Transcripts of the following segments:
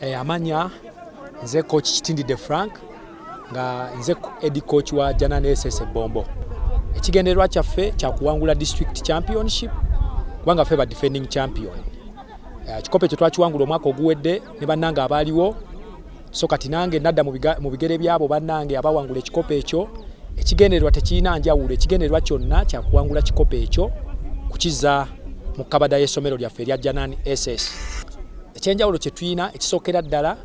Eh, amanya nze coach Kitindide Frank nga nze edi coach wa Janane SS Bombo. Ekigendererwa kyaffe kya kuwangula district championship kubanga ffe ba defending champion. Eh, kikopo ekyo twakiwangula omwaka oguwedde ne bannange abaaliwo so kati nange nadda mu bigere byabo bannange abawangula ekikopo ekyo ekigendererwa tekirina njawulo ekigendererwa kyonna kyakuwangula kikopo ekyo kukiza mu kabada y'essomero lyaffe erya Janan SS. Ekyenjawulo kye tulina ekisookera ddala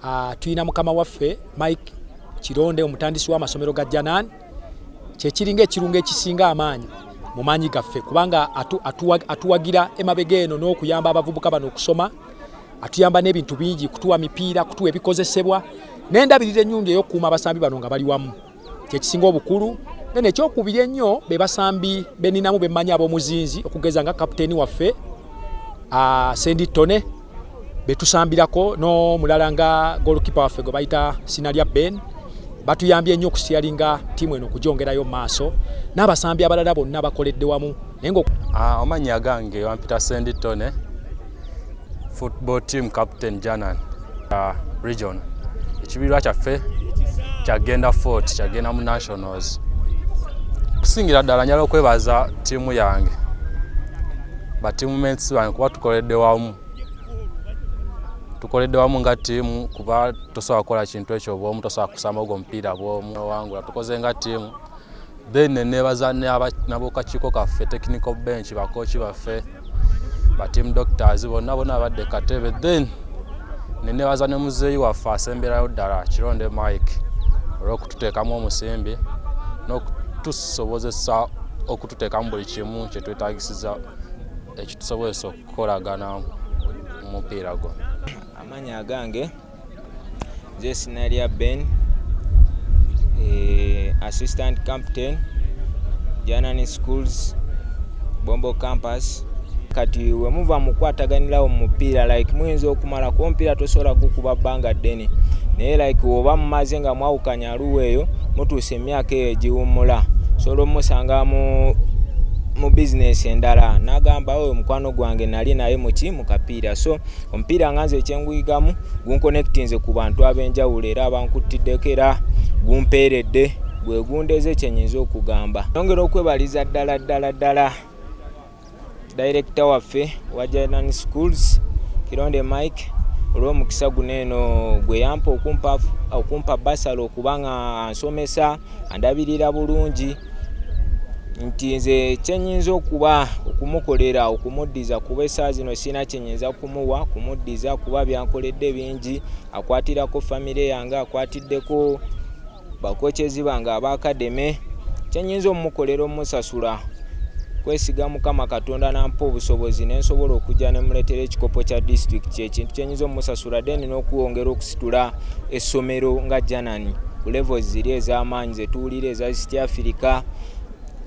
ah, tulina mukama waffe Mike Kironde omutandisi w'amasomero ga Janan kyekiringa ekirungo ekisinga amaanyi mu maanyi gaffe kubanga atuwagira emabega eno n'okuyamba abavubuka bano okusoma atuyamba n'ebintu bingi kutuwa mipiira kutuwa ebikozesebwa n'endabirira ennyungi ey'okukuuma abasambi bano nga bali wamu. kyekisinga obukulu nene ekyokubiri ennyo be basambi beninamu bemmanyi ab'omuzinzi okugeza nga kapiteeni waffe ah, sendi tone betusambirako n'omulala nga golkipa waffe gwe bayita sina lya ben batuyambye ennyo okusiyalinga ttiimu eno okugyongerayo mu maaso n'abasambi abalala bonna bakoledde wamu naye nga ah, omanyi agange wampita sendi tone football team captain janan uh, region ekibiirwa kyaffe kyagenda fort kyagenda mu nationals okusingira ddala njala okwebaza ttiimu yange batiimu mensi bange kuba tukoledde wamu tukoledde wamu nga ttiimu kuba tosobola kukola kintu ekyo bwomu tosobola kusamba ogwo omupiira bwomu owangula tukoze nga ttiimu then nenebaza nabokakiiko kaffe technical bench bakoki baffe ba team doctors bonna bona abadde katebe then nenebaza ne muzeeyi waffe asemberayo ddala kironde mike olwokututeekamu omusimbi nokutusobozesa okututeekamu buli kimu kyetwetagisiza ekitusobozesa okukolagana mupiira gwo amanya agange nze sinaria ben eh, assistant captain janani schools bombo campus kati wemuva mukwataganirawo mumupiira like muyinza okumala ku omupiira tosobola gukuba bbanga ddene naye like oba mumaze nga mwawukanya aluwa eyo mutuusa emyaka eyo egiwummula sobola omusanga mu mu bizinesi endala nagamba oyo mukwano gwange nali naye muki mukapiira so omupiira nga nze ekyenguyigamu gunkonectinze ku bantu ab'enjawulo era abankuttiddeko era gumpeeredde gwe gundeze kyenyinza okugamba yongera okwebaliza ddala ddala ddala dayirekita waffe wa ginan schools kironde mike olw'omukisa guno eno gwe yampa okumpa basala okuba nga ansomesa andabirira bulungi nti nze kyenyinza okuba okumukolera okumuddiza kuba esaa zino sirina kyenyinza kumuwa kumuddiza kuba byankoledde bingi akwatirako famire yange akwatiddeko bakokyezi bange abakademe kyenyinza omumukolera omusasula kwesiga mukama katonda nampa obusobozi nensobola okujja nemuletera ekikopo kya district kyekintu kyenyinza omusasula then nokuwongera okusitula essomero nga janani ku levels ziri ezamaanyi zetuwulira eza east africa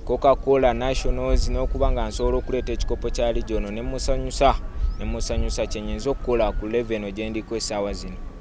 cocacola nationals nokuba nga nsobola okuleeta ekikopo kya regiono nemusanyusa nemusanyusa kyenyinza okukola ku leve eno gyendiko esaawa zino